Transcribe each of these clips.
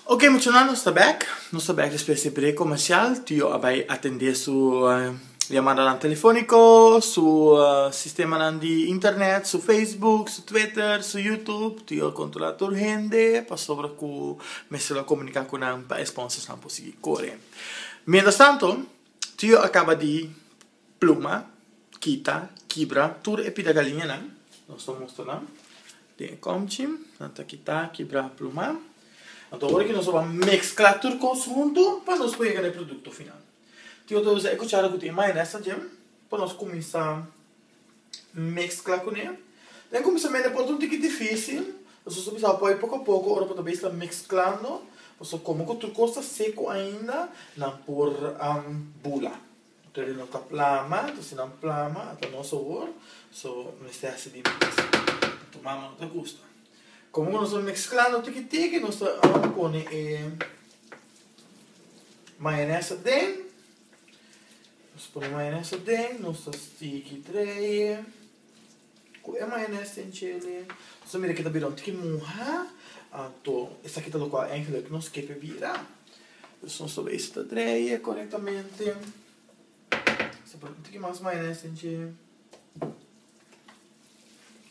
Ok muchanan nos ta back, nos ta back despues di e break comercial, Tio a bay atende su llamadanan telefonico, su sistemanan di internet, su facebook, su twitter, su youtube, Tio a controla tur hende pasobra cu mester lo comunica cu nan pa e sponsorsnan por sigui core. Mientras tanto Tio a caba di. Pluma, kita, kibra tur e pida galiñanan. Nos ta mustra nan den e komchi. Nan ta kita, kibra, pluma. Anto ora ki nos a wak meskla tur kos huntu pa nos por yega na e produkto final. Tin otro bes e kuchara ku tin e mayones adje pa nos kuminsá meskla kuné. Den kuminsamentu por ta un tiki difisil, nos a kuminsá poi poko a poko ora bo ta beisla mesklando, bo ta komo ku tur kos ta seku ainda, nan por bula. Toda no ta plama, to si nan plama ta nos sabor, so mester hasi di mes. Ta tuma ma no ta gusta. Como cu nos ta mezclando tiki tiki nos ta ahora pone e mayones aden, nos pone mayones aden, nos ta stiki dreye. Cu e mayones tin chele. Su mira kita bira un tiki muha, anto esaki ta locual Angela cu nos kepe bira. Dus nos ta bay si ta dreye corectamente. Nos ta pone un tiki mas mayones tin dje.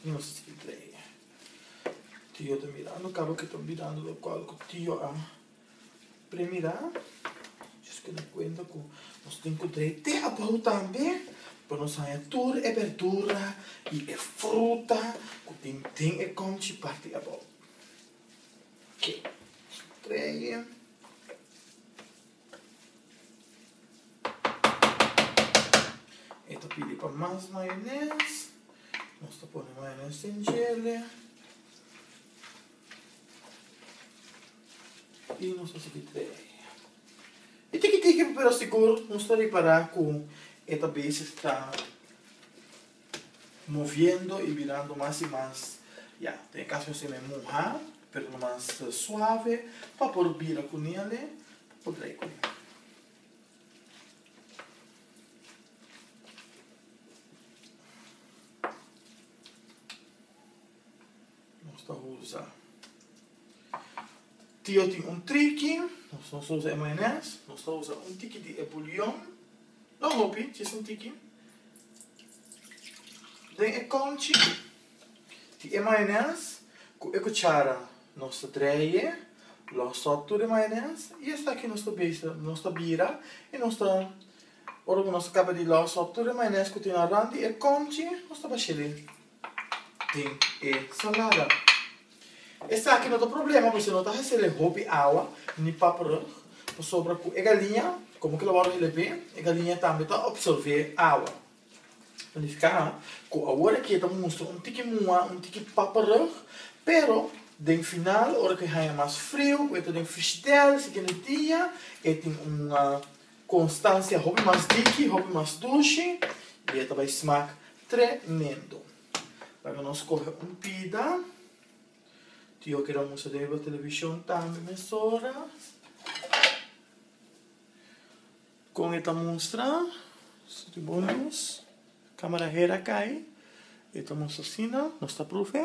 Y nos ta sigui dreye. Tio ta mirando caba kita bira locual cu tio a. Primirá, djoes keda kuenta ku nos tin ku trei te abou tambe pa nos haña tur e berdura i e fruta ku tin den e kòmchi parti abou. Oke, tre'e. E ta pidi pa mas mayones, nos ta pone mayones den djele. E tiki tiki pero sigur nos ta repará ku e ta beses ta moviendo i birando mas i mas, ya, den e kas mi a sema e muhá, pero ta mas suave pa por bira ku nele, pa por tra'i ku nele. Nos ta usa tio tin un triki nos nos ta usa e mayones nos ta usa un tiki di e bulion no hopi just un tiki den e konchi di e mayones ku e kuchara nos ta dreie los op tur e mayones i esaki nos ta bes nos ta bira i nos ta ora ku nos a kaba di los op tur e mayones ku tin aran di e konchi nos ta bash'e lei. den e salada. Esaki no ta problema pues e no ta haci reg hopi awa ni paperug pasobra cu e galiña como que lo wou hele bien e galiña tambe ta obsorbe awa. Planifica cu awor aki e ta mustra un tiki mua un tiki paperug pero den final ora cu e haya mas frio cu e ta den fristel si kende dia e tin un Constancia hopi mas diki, hopi mas dushi y e ta bay smaak tremendo. Laga nos coge un pida. Tio keda musa den riba television tambe mesora. Con e ta mustra, su tin bon luz, camera her a cay, e ta mustra asina, nos ta profe.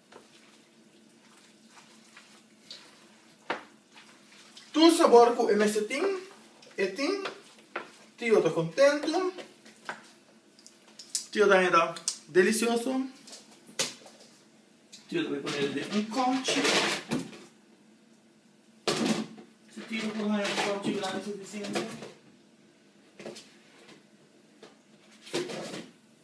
Tur sabor cu e mester tin e tin, tio ta contento, tio ta heda delicioso, tio ta pone el den un conchi, si tio por haya un conchi grandi suficiente.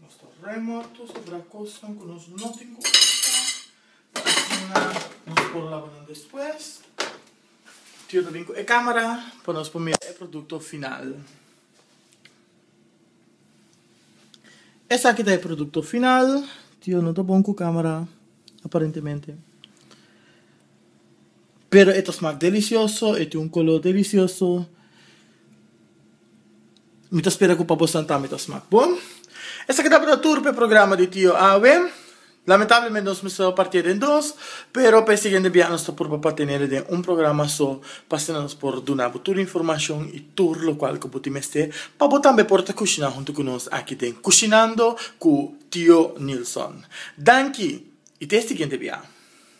Nos ta remorto sobra cosnan cu nos no tin cu usa pa asina nos por laba nan despues. Tio ta bin cu e camera pa nos por mira e producto final. Esaki ta e producto final. Tio no ta bon cu camera aparentemente. pero e ta smak delicioso, e tin un color delicioso, mi ta spera cu pa bosan tambe ta smak bon. Esaki tabata tur p'e programa di Tio Awe, lamentablemente nos mester partia den dos, pero p'e siguiente bia nos ta purba pa tenela den un programa so, p'asina nos por dunabu tur informacion y tur locual cu bo tin mester pa bo tambe por ta cushina hunto cu nos aki den Cushinando cu Tio Nilson. Danki y te siguiente bia.